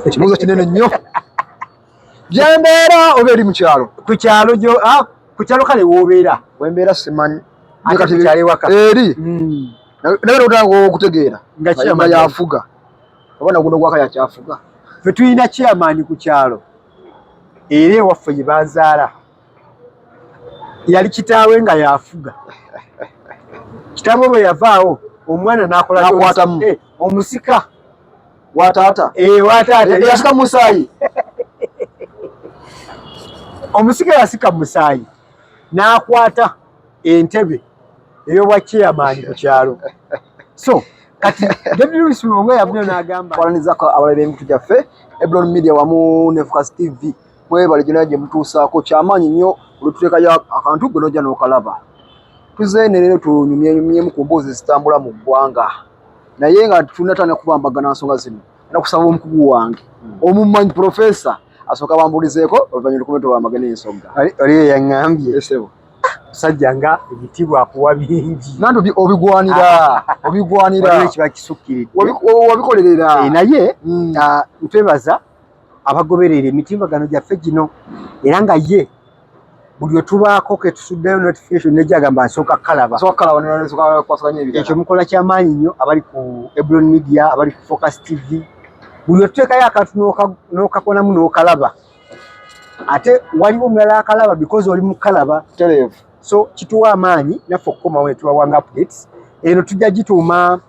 ekibuuzo kinene nnyo gyembeera oba eri mukyalo ku kyalo gyo ah, ku kyalo kale wobeera wembeera simanyi eri hmm. naye otanga okutegeera nga yafuga obona guno gwaka yakyafuga fe tulina chairman ku kyalo era ewaffe gye bazaala yali kitaawe nga yafuga kitaawe bwe yavaawo omwana n'akolakwatamu eh, omusika wataata eh, wataata eh, yasika musaayi omusika yasika musaayi n'akwata entebe ey'obwa chairmani ku kyalo so kati david lewis mulongo yavunyo n'agamba twanizako abalabi b'emitu gyaffe ebron media wamu ne focus tv Mwebale gyonna gye mutuusaako kyamaanyi nnyo olututekayo akantu gwe nojja n'okalaba. Tuzeene leero tunyumyenyumyemu ku mboozi ezitambula mu ggwanga naye nga tunatandika kubambagana nsonga zino era kusaba omukugu wange hmm. omumanyi profesa asooka bambulizeeko oluvannyuma lukube tubambagana ensonga. Oli eyaŋŋambye musajja nga ebitiibwa akuwa bingi nanti obigwanira obigwanira kiba kisukkiridde wabikolerera eh, naye hmm. ah, ntwebaza abagoberera emitimbagano gyaffe gino era nga ye buli wetubaako ketusuddeyo notification nejja agamba nsooka kalaba ekyo mukola kyamaanyi nnyo abali ku ebron media abali ku focus tv buli wetuteekayo akantu nokakonamu nokalaba ate waliwo omulala akalaba because oli mukalaba so kituwa amaanyi naffe okukomawo netubawanga updates eno tujja gituuma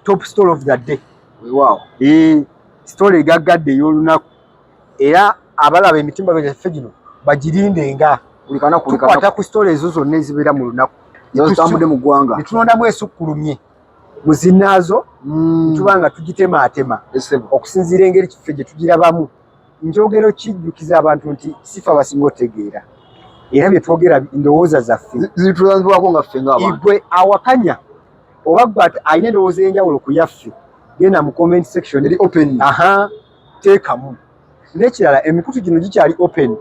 top story of the day wewawo ee eh. sitole egaggadde ey'olunaku era abalaba emitimba gyaffe gino bagirinde nga tukwata ku sitole ezo zonna ezibeera mu lunaku zitambudde mu ggwanga ne tulondamu esukkulumye mu zinnaazo mm. tuba nga tugitemaatema okusinziira engeri kiffe gye tugirabamu njogero kijjukiza abantu nti sifa basinga otegeera era bye twogera ndowooza zaffe zitulambibwako nga ffe ngaigwe awakanya oba gwe alina endowooza enjawulo ku yaffe genda mu comment section eri open aha teekamu nekirala emikutu gino gikyali open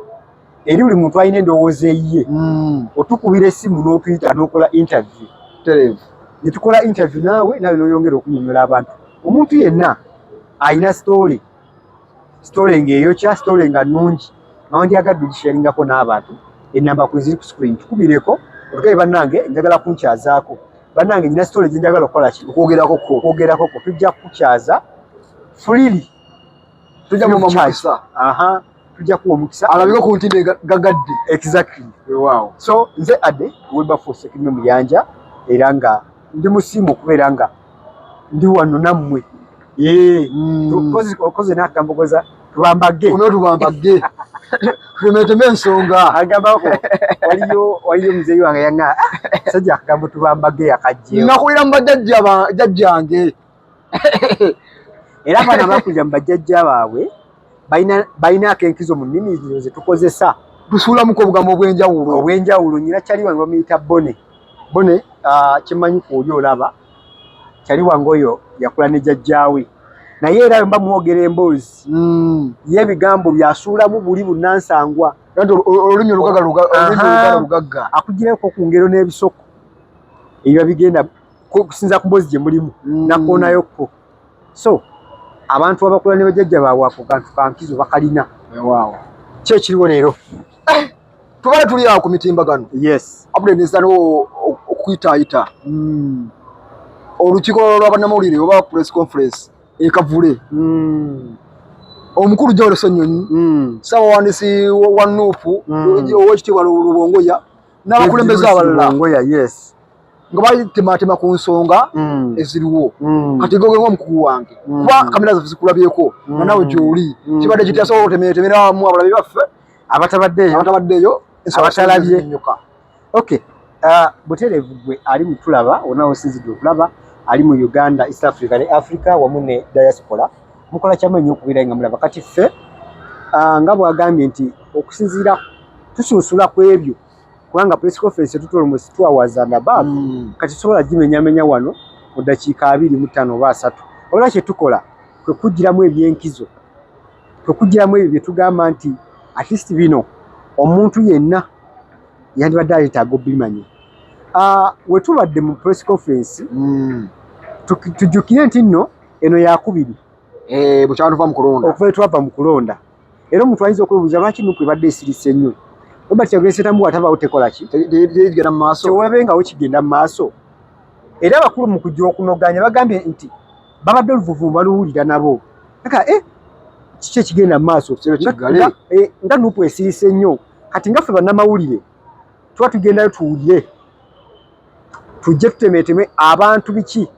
eri buli muntu alina endowooza eyiye hmm. otukubira esimu n'otuyita n'okola interview terevu netukola interview naawe naawe noyongera okunyonyola abantu omuntu yenna alina story sitole nga eyokya sitole nga nnungi nawandyagadde ogisharingako n'abantu enamba kwe ziri ku screen tukumireko otugaye bannange njagala kunkyazaako bannange nyina sitole gye njagala okukola ki okwogerako ko okwogerako ko tujja kukukyaza fulili tujja kukukyaza aha tujja kuwa omukisa alabika ku ntinde gagadde exactly wewaawo so nze ade webafuse kirime muyanja era nga ndi musiimu okubeera nga ndi wano nammwe hmm. okoze nakambogoza tubambage ono tubambage tumeteme ensonga agambako waliyo waliyo muzeeyi wange yanga sajja akambo tubambage yakajje nakulira mu bajajja jajjange era bana bakulira mu bajajja baabwe balina akenkizo mu nnimi zino ze tukozesa tusulamuko obugambo obwenjawulo obwenjawulo nyina kyali wange bamuyita bone bone ah, kimanyi kuoli olaba kyali wange oyo yakula ne jajjaawe naye era mba mwogera emboozi hmm. ye ebigambo byasuulamu buli bunnansangwa olulimi olugagga akugireko ku ngero n'ebisoko ebiba bigenda kusinza ku mboozi gye mulimu hmm. nakoonayo kko so abantu abakula ne bajajja baabwe ako kantu kankizo bakalina wewaawo kyekiriwo leero eh, tubale tuli awo ku mitimbagano yes abule nezano okuyitaayita hmm. olukiiko lwa bannamawulire oba press conference ekavule hmm. omukulu jawero senyonyi hmm. ssabawandiisi wa nuupu owekitiibwa lubongoya n'abakulembeze abalala yes nga balitematema ku nsonga mm. eziriwo mm. kati goge nga omukugu wange mm. kuba kamera zaffe zikulabyeko nga nawe gyoli kibadde kiti asobola otemetemera wamu abalabi baffe abatabaddeeyo abatabaddeeyo abatalabye ok uh, butereevu gwe ali mutulaba ona osinzidde okulaba ali mu uganda east africa ne africa wamu ne diaspora mukola kyamanyi okubeera nga mulaba kati ffe uh, nga bwagambye nti okusinziira tusunsula ku ebyo kubanga press conference etutola mu two hours and above mm. kati sobola gimenyamenya wano mu dakiika abiri mu ttaano oba asatu wabula kye tukola kwe kugiramu ebyenkizo kwe kugiramu ebyo bye tugamba nti at least bino omuntu yenna yandibadde aleetaaga obimanya ah, we tubadde mu press conference mm. tujjukire nti nno eno yakubiri eh, bukyantuva mu kulonda okuva etwava mu kulonda Era omuntu ayinza okwebuuza lwaki nupu ebadde esirise ennyo. Robert Kyagulanyi Ssentamu bw'atabaawo tekola ki? Tegenda mu maaso. Tewabengawo kigenda mu maaso. Era abakulu mu kujja okunoganya bagambye nti babadde oluvuvu baluwulira nabo. Kaka eh kiki ekigenda mu maaso? Eh, nga nupu esirise nnyo. Kati nga ffe bannamawulire tuba tugendayo tuwulire tujje tutemeeteme abantu biki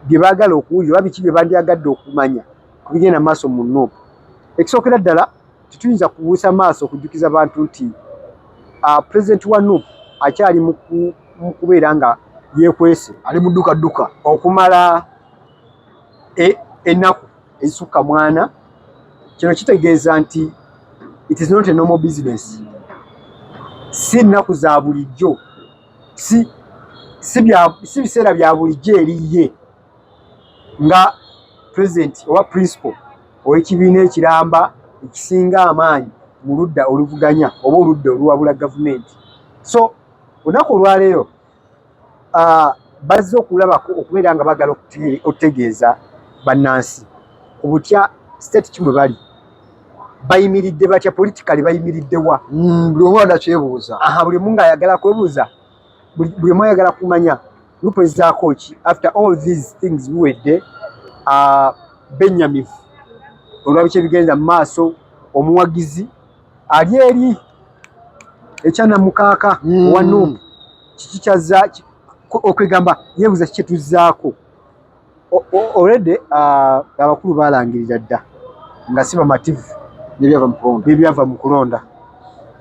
bye baagala okuwulira oba biki bye bandyagadde okumanya ku bigenda maaso mu nup ekisookera ddala tetuyinza kubuusa maaso okujjukiza bantu nti ah, pulezidenti wa nup akyali mu kubeera nga yekwese ali mudduka dduka okumala e, ennaku ezisukka mwana kino kitegeeza nti it is not a normal business si nnaku za bulijjo si si bya si biseera bya bulijjo eri ye nga president oba principal ow'ekibiina ekiramba ekisinga amaanyi mu ludda oluvuganya oba oludda oluwabula gavumenti so olunaku olwaleero uh, bazze okulabako okubeera nga bagala okutegeeza bannansi ku butya state ki bwe bali bayimiridde batya politikali bayimiridde wa mm, buli omu anakyebuuza aha buli omu ngaayagala kwebuuza buli omu ayagala kumanya lupezaako ki after all these things biwedde uh, benyamivu olwabiki ebigenda mu maaso omuwagizi ali eri ekyanamukaaka mm. owa nup kiki kyazza okwegamba yebuuza kikyetuzaako Already uh, abakulu balangirira dda nga si bamativu nebyava mu kulonda.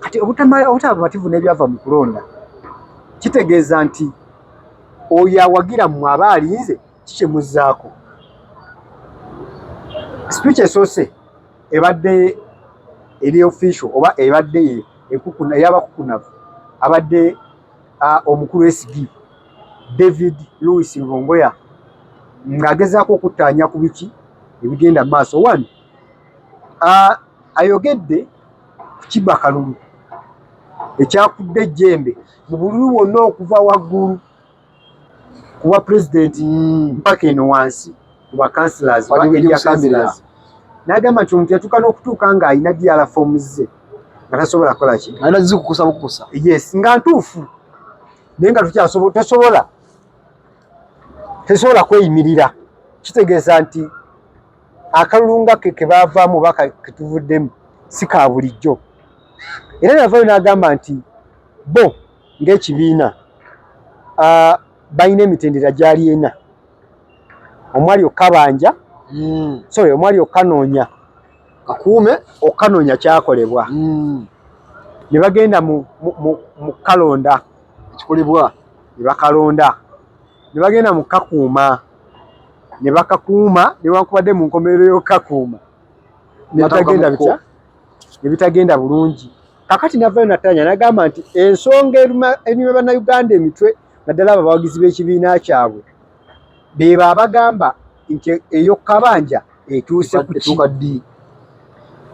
Kati obutaba bamativu nebyava mu kulonda kitegeeza nti oyo awagira mmwe aba alinze kikimuzzaako. Speech esoose ebadde eri official oba ebadde ekukunayabakukunavu abadde omukulu SG David Louis Lubongoya ng'agezaako okuttaanya ku biki ebigenda mu maaso. One, ayogedde ku kibba kalulu ekyakudde ejjembe mu bululu bwonna okuva waggulu ku bwa pulezidenti mpaka eno wansi ku bakansila n'agamba nti omuntu yatuuka n'okutuuka ng'alina diala foomu ze. nga tasobola kukola ki alina zikukusa bukusa yes nga ntuufu naye nga tukyasobola tosobola tesobola kweyimirira kitegeeza nti akalulu nga ke ke baavaamu oba ketuvuddemu si ka bulijjo era navayo n'agamba nti bo ng'ekibiina balina emitendera gyali ena omwali okukabanja hmm. sorry omwali okukanoonya kakuume okukanonya kyakolebwa mm. ne bagenda mu kalonda ekikolebwa ne bakalonda ne bagenda mu kakuuma ne bakakuuma newankubadde mu nkomerero y'okukakuuma nebitagenda bitya nebitagenda bulungi kakati navayo natanya nagamba nti ensonga enyuma bannayuganda emitwe naddala abo abawagizi b'ekibiina kyabwe bebo abagamba nti eyo kabanja etuuse kutuuka ddi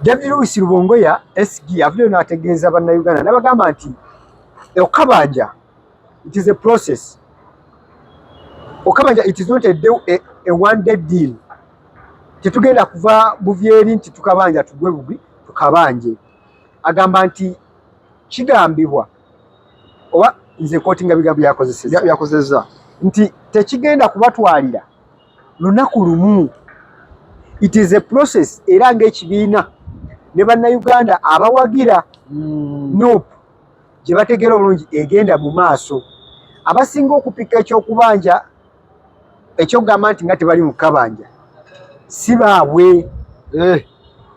david lewis lubongoya sg avuddeyo n'ategeeza bannayuganda n'abagamba nti eyo kabanja it is a process okabanja it is not a, day, a, a one day deal tetugenda kuva buvyeri nti tukabanja tugwe bugwi tukabanje agamba nti kigambibwa oba nze kooti nga bigambo byakozesebyakozeza nti tekigenda kubatwalira lunaku lumu it is a process era ngaekibiina ne bannayuganda abawagira mm. nup gye bategeera obulungi egenda mu maaso abasinga okupika ekyokubanja ekyokugamba nti nga tebali mukabanja si baabwe eh,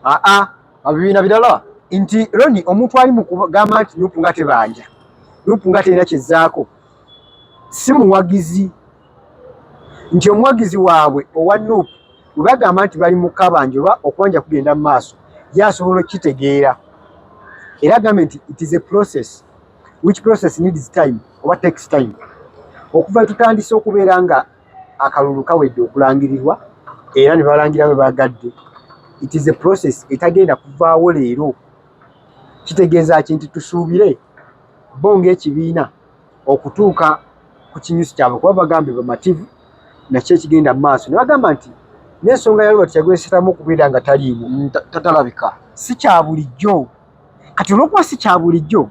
aa abibiina birala nti roni omuntu ali mukugamba nti nupu nga tebanja nupu nga terina kyezaako si muwagizi nti omuwagizi waabwe owa nupu webagamba nti bali mukabanja oba okubanja kugenda mu maaso ye asobola okukitegeera era agambe nti it is a process which process needs time oba takes time okuva tutandise okubeera nga akalulu kawedde okulangirirwa era ne balangira bwe bagadde it is a process etagenda kuvaawo leero kitegeeza ki nti tusuubire bo ng'ekibiina okutuuka ku kinyusi kyabwe kuba bagambe bamativu nakyo ekigenda mu maaso ne bagamba nti n'ensonga ya robert yagwesetamu okubeera nga taliimu tatalabika si kya bulijjo kati olwokuba si kya bulijjo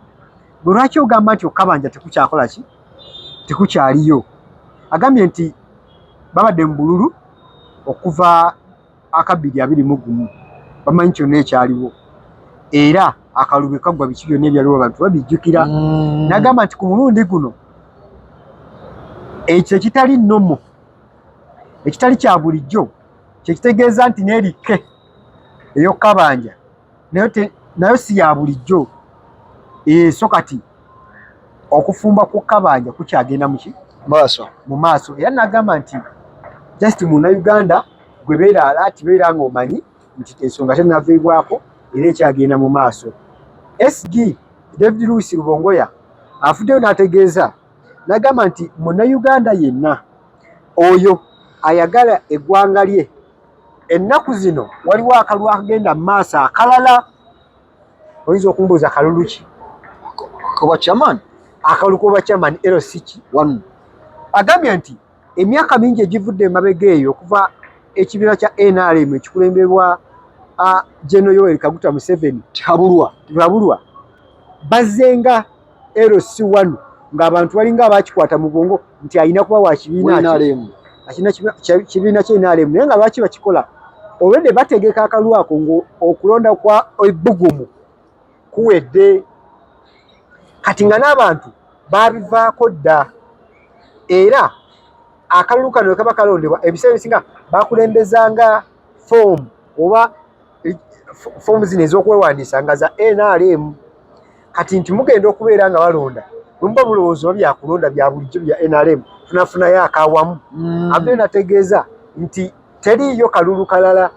gwe lwaki ogamba nti okukabanja tekukyakola ki tekukyaliyo agambye nti babadde mu bululu okuva akabbiri abiri mu gumu bamanyi kyonna ekyaliwo era akalubye kaggwa biki byonna ebyaliwo abantu babijjukira mm. nagamba nti ku mulundi guno ekyo ekitali nomo ekitali kya bulijjo kyekitegeeza nti nerike eyokukabanja naye nayo si ya bulijjo eh, so kati okufumba kukabanja kukyagenda muki maaso mu maaso era nagamba nti just muna uganda gwe beera alaati beera nga omanyi nti ensonga tenaviibwako era ekyagenda mu maaso sg david louis rubongoya afuddeyo n'ategeeza nagamba nti muna uganda yenna oyo ayagala eggwanga lye Ennaku zino waliwo akalulu akagenda mu maaso akalala, oyinza okumbuuza kalulu ki? Koba chairman. Akalulu koba chairman LC ki? One. Agambye nti emyaka mingi egivudde emabega eyo okuva ekibiina kya NRM ekikulembebwa General Yoweri Kaguta Museveni Tihabulwa Tihabulwa bazzenga LC wano ng'abantu balinga abakikwata mu bwongo nti alina kuba wa kibiina kibiina kye NRM naye nga lwaki bakikola olwedde bategeka akalu ako ng'okulonda kwa ebbugumu kuwedde kati nga n'abantu baabivaako dda era akalulu kano wekaba kalondebwa ebiseera ebisinga bakulembezanga foomu oba foomu zino ez'okwewandiisa nga za nrm kati nti mugenda okubeera nga balonda bwemuba mulowooza oba byakulonda bya bulijjo bya nrm tunafunayo akawamu mm. abdee nategeeza nti teriiyo kalulu kalala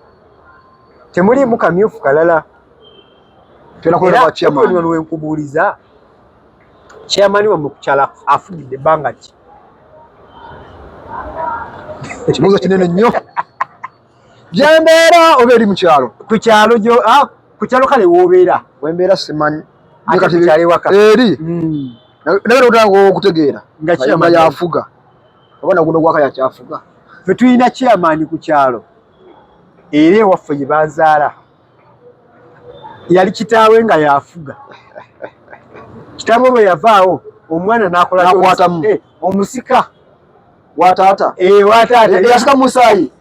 temuliimu kamyufu kalala eraono wenkubuuliza chairmani wamwe kukyala afugidde ebbanga ki ekibuuzo kinene nnyo gyembeera oba eri mukyalo kukyalo gyo ah, kukyalo kale wobeera wembeera simanyi eri hmm. naye otanga okutegeera nga yafuga oba naguno gwaka yakyafuga fe tulina kyamaani ku kyalo era ewaffe gye bazaala yali kitaawe nga yafuga kitaawe bwe yavaawo omwana nakola eh, omusika wa taata eh, wa taata eh, yasika musaayi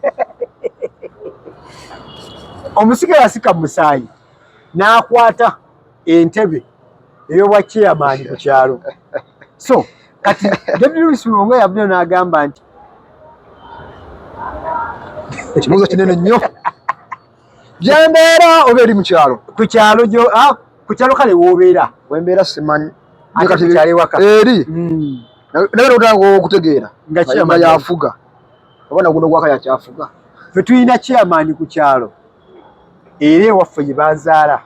omusika yasika musaayi n'akwata entebe ey'obwa chairman ku kyalo so kati david lewis mulongo yavudeo n'agamba nti ekibuuzo kinene nnyo gyembeera oba eri mukyalo kukyalo gyo ah, kukyalo kale wobeera wembeera simanyi eri hmm. naye otanga okutegeera nga yafuga oba naguno gwaka yakyafuga fe tulina kyamaani ku kyalo era ewaffe gye bazaala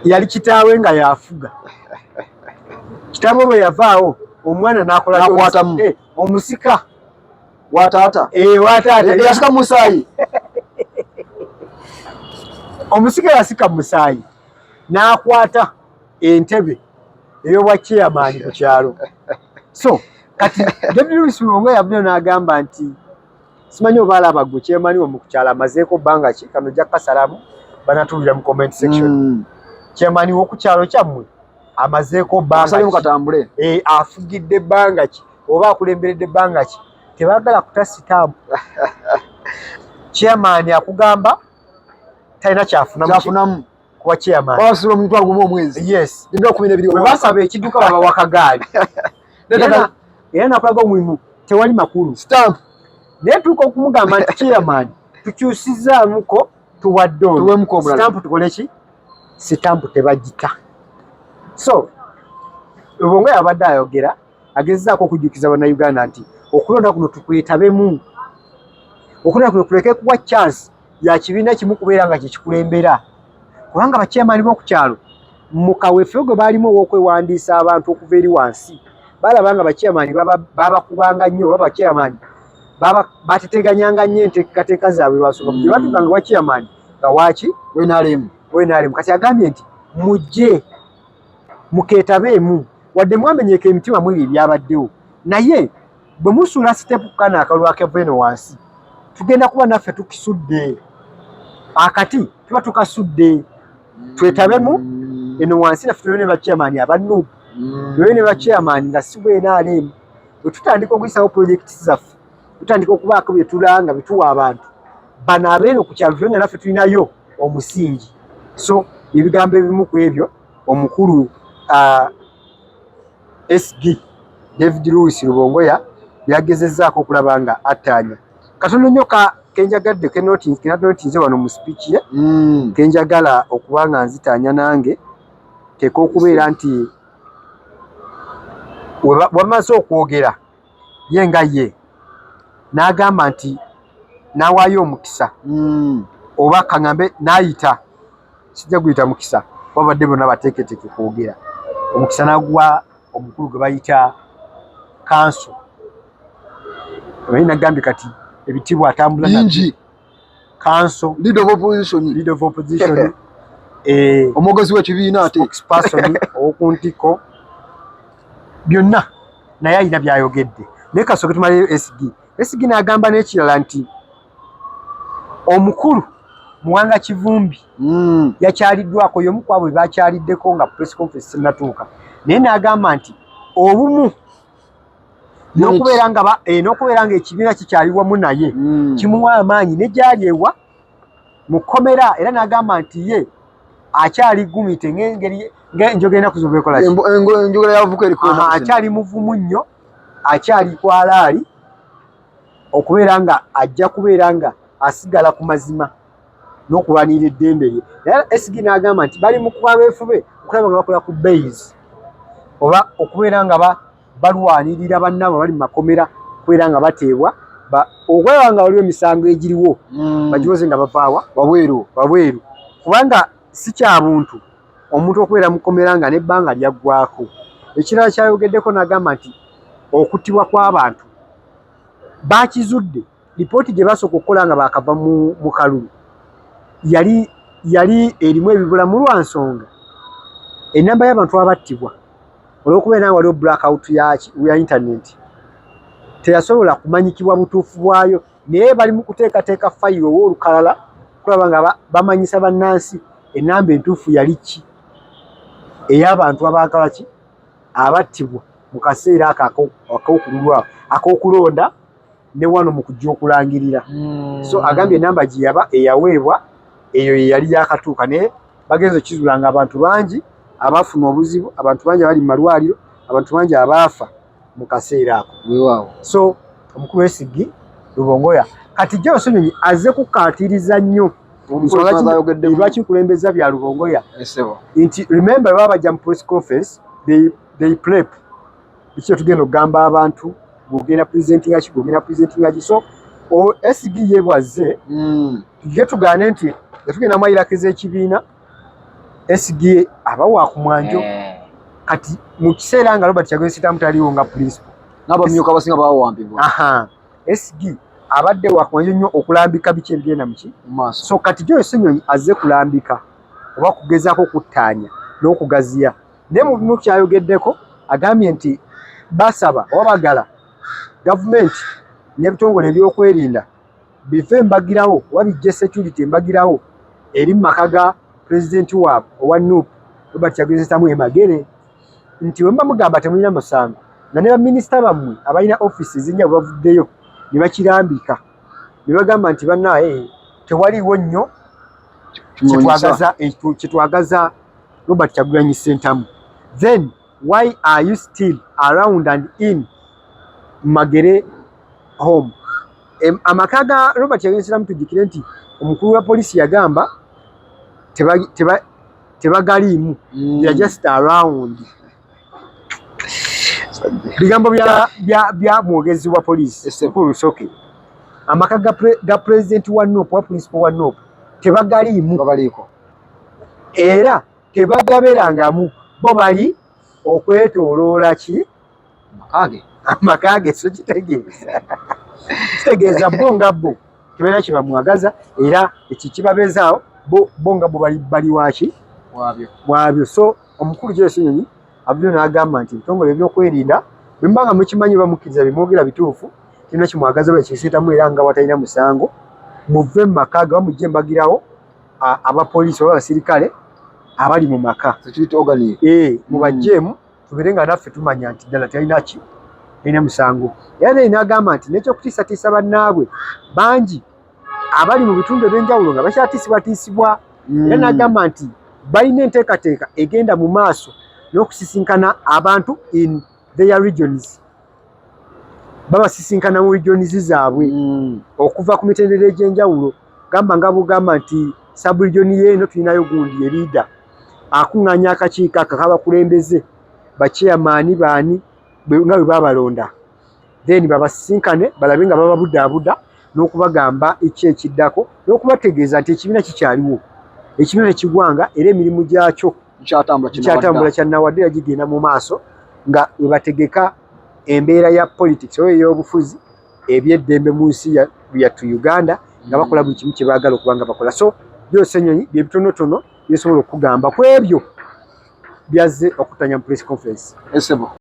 yali kitaawe nga yafuga kitaawe bwe yavaawo omwana nakola eh, omusika wa taata eh, wa taata eh, yasika musaayi omusika yasika musaayi n'akwata entebe ey'obwa chairman ku kyalo so kati david lewis mulongo yavudeo n'agamba nti simanyi oba alaba gwe chairman wamu ku kyalo amazeeko bbanga ki kano ojja kukasalamu banatuulira mu comment section mm. chairman w'oku kyalo kyammwe amazeeko bbanga katambule eh, afugidde bbanga ki oba akulemberedde bbanga ki tebagala kuta sitamu chairman akugamba talina kyafunamu kuba chairmanbasula omuntu aguma omwezi yes nina okumina ebiri webasaba ekidduka baba wakagaali era nakulaga omulimu tewali makulu stamp naye tuuka okumugamba nti chairman tukyusizaamuko tuwadde onstamp tukoleki sitampu tebagita so lubongo yabadde ayogera agezezaako okujjukiza bannayuganda nti okulonda kuno tukwetabemu okulonda kuno kuleke kuwa chance ya kibiina kimu kubeera nga kyekikulembera kubanga bakyemani b'okukyalo mu kaweefube gwe baalimu ow'okwewandiisa abantu okuva eri wansi balaba nga bakyemani babakubanga nnyo oba bakyemani bateteganyanga nnyo enteekateeka zaabwe lwasoka gye batuka nga wakyemani nga waaki wenalemu wenalemu kati agambye nti mujje mukeetabeemu wadde mwamenyeka emitima mwebyo ebyabaddewo naye bwe musuula siteepu ku kano akalulu akeva eno wansi tugenda kuba naffe tukisudde akati tuba tukasudde twetabemu eno wansi naffe tube ne bakyamaani abanuubu tube ne bakyamaani nga si bwenaaleemu bwe tutandika okuyisawo pulojekiti zaffe tutandika okubaako bye tulanga bituwa abantu bano abeeno ku kyalo tulanga naffe tulinayo omusingi so ebigambo ebimu ku ebyo omukulu uh, sg david louis lubongoya yagezezaako okulaba nga attaanya katono nnyo ka kenjagadde kenatinotinze wano mu sipiiki ye mm. kenjagala okuba nga nzitaanya nange teeka okubeera nti wamaze okwogera ye nga ye n'agamba nti n'awaayo omukisa hmm. oba kaŋambe n'ayita sijja guyita mukisa babadde bonna bateeketeeke kwogera omukisa n'aguwa omukulu gwe bayita kanso naye nagambye kati ebitiibwa atambula nabyo kanso leader of opposition leader of opposition eh omogozi wa kibiina ate spokesperson okuntiko byonna naye alina byayogedde naye kasooke tumaleyo sd sd n'agamba n'ekirala nti omukulu muwanga kivumbi mm. yakyaliddwako yomu kwabo bebakyaliddeko nga press conference sinatuuka naye n'agamba nti obumu nokubeera nga eh, nokubeera nga ekibiina kikyali wamu naye mm. kimuwa amaanyi ne gyali ewa mu kkomera era n'agamba nti ye akyali gumite ngengeri ngenjogera enaku zobekola enjogera yavuka eriko akyali muvumu nnyo akyali kwalaali okubeera nga ajja kubeera nga asigala ku mazima n'okulwanirira eddembe lye era SG n'agamba nti bali mu kwabeefube okulaba nga bakola ku bays oba okubeera nga balwanirira bannaabwe abali mu makomera okubeera nga bateebwa okulaba nga waliwo emisango egiriwo hmm. bagiwoze nga bavaawa wabweru wabweru kubanga si kya buntu omuntu okubeera mu komera nga n'ebbanga lyaggwako ekirala kyayogeddeko n'agamba nti okuttibwa kw'abantu bakizudde Lipooti gye baasooka okukola nga baakava mu kalulu yali yali erimu ebibula mu lwa nsonga ennamba y'abantu abattibwa olw'okuba era waliwo blackout ya intaneti teyasobola kumanyikibwa butuufu bwayo naye bali mu kuteekateeka fayiro owa olukalala okulaba nga bamanyisa bannansi ennamba entuufu yali ki ey'abantu abaagala ki abattibwa mu kaseera ako ak'okululwa ak'okulonda ne wano mu kujja okulangirira mm. so agambye enamba gye yaba eyaweebwa eyo ye yali yakatuuka naye bagenza okizula nga abantu bangi abafuna obuzibu abantu bangi abali mu malwaliro abantu bangi abaafa mu kaseera ako wewawo so omukulu wesigi lubongoya kati gye osonyonyi aze kukaatiriza nnyo lwaki nkulembeza bya lubongoya nti remember baba bajja mu press conference they, they prep biki kyetugenda okugamba abantu gwogenda presentinga ki gwogenda presentinga ki so sd ye bwazze hmm. tujje tugaane nti yatugenda mwayirakiza ekibiina sd aba wakumwanjo eh. kati mu kiseera nga robert kyagwesitamu taliwo nga principal nabamyuka abasinga bawambibwa sd abadde wakumwanjo nnyo okulambika biki ebigenda muki so kati gyoyo senyonyi azze kulambika oba kugezaako okuttaanya n'okugaziya naye mu bimu kyayogeddeko agambye nti basaba oba bagala gavumenti n'ebitongole ebyokwerinda bive embagirawo oba bijje security embagirawo eri mu maka ga pulezidenti waabwe owa nup robert kyagezetamu emagere nti bwe muba mugamba temulina musango nga ne baminisita bammwe abalina ofiisi ezinnya bwe bavuddeyo ne bakirambika ne bagamba nti banaye tewaliwo nnyo kyetwagaza Robert Kyagulanyi Ssentamu then why are you still around and in Magere home amaka ga Robert Kyagulanyi Ssentamu tujjukire nti omukulu wa poliisi yagamba tebagaliimu mm. ya just around bigambo bya mwogezi wa poliisi mukulu Rusoke amaka ga president wa NOP wa principal wa NOP tebagaliimu era tebagaberangamu bo bali okwetoloola ki amaka ge so kitegeeza kitegeeza bo nga bo tebalina kyebamwagaza era ekyo kibabeezaawo bo nga bo bali waki waabyo so omukulu gyesunyonyi abyo n'agamba nti ebitongole ebyokwerinda bwemuba nga mukimanyi oba mukkiriza bimwogera bituufu kirina kimwagaza oba ekisitamu era nga watalina musango muve mu maka ge oba mujje mbagirawo abapoliisi oba abasirikale abali mu maka eh, mubajjeemu mm. tubeere nga naffe tumanya nti ddala talina ki talina musango era naye nagamba nti nekyokutiisatiisa bannaabwe bangi abali mu bitundu ebyenjawulo nga bakyatiisibwatiisibwa mm. era nagamba nti balina enteekateeka egenda mu maaso n'okusisinkana abantu in their regions babasisinkana mu rijonizi zaabwe mm. okuva ku mitendera egy'enjawulo gamba nga bugamba nti saburijoni yeeno tulinayo gundi ye liida akuŋŋaanya akakiiko ako kabakulembeze baceyamaani baani nga bwe babalonda then babasisinkane balabe nga bababudaabuda n'okubagamba eki ekiddako n'okubategeeza nti ekibiina kikyaliwo ekibiina tekigwanga era emirimu gyakyo kyatambula kyanawadde yagigenda mu maaso nga webategeka embeera ya politics oyo eyobufuzi ebyeddembe mu nsi yattu uganda nga bakola buli kimu kyebagala okuba nga bakola so byose enyonyi byebitonotono byesobola okugamba ku ebyo byazze okutanya mu press conference esebo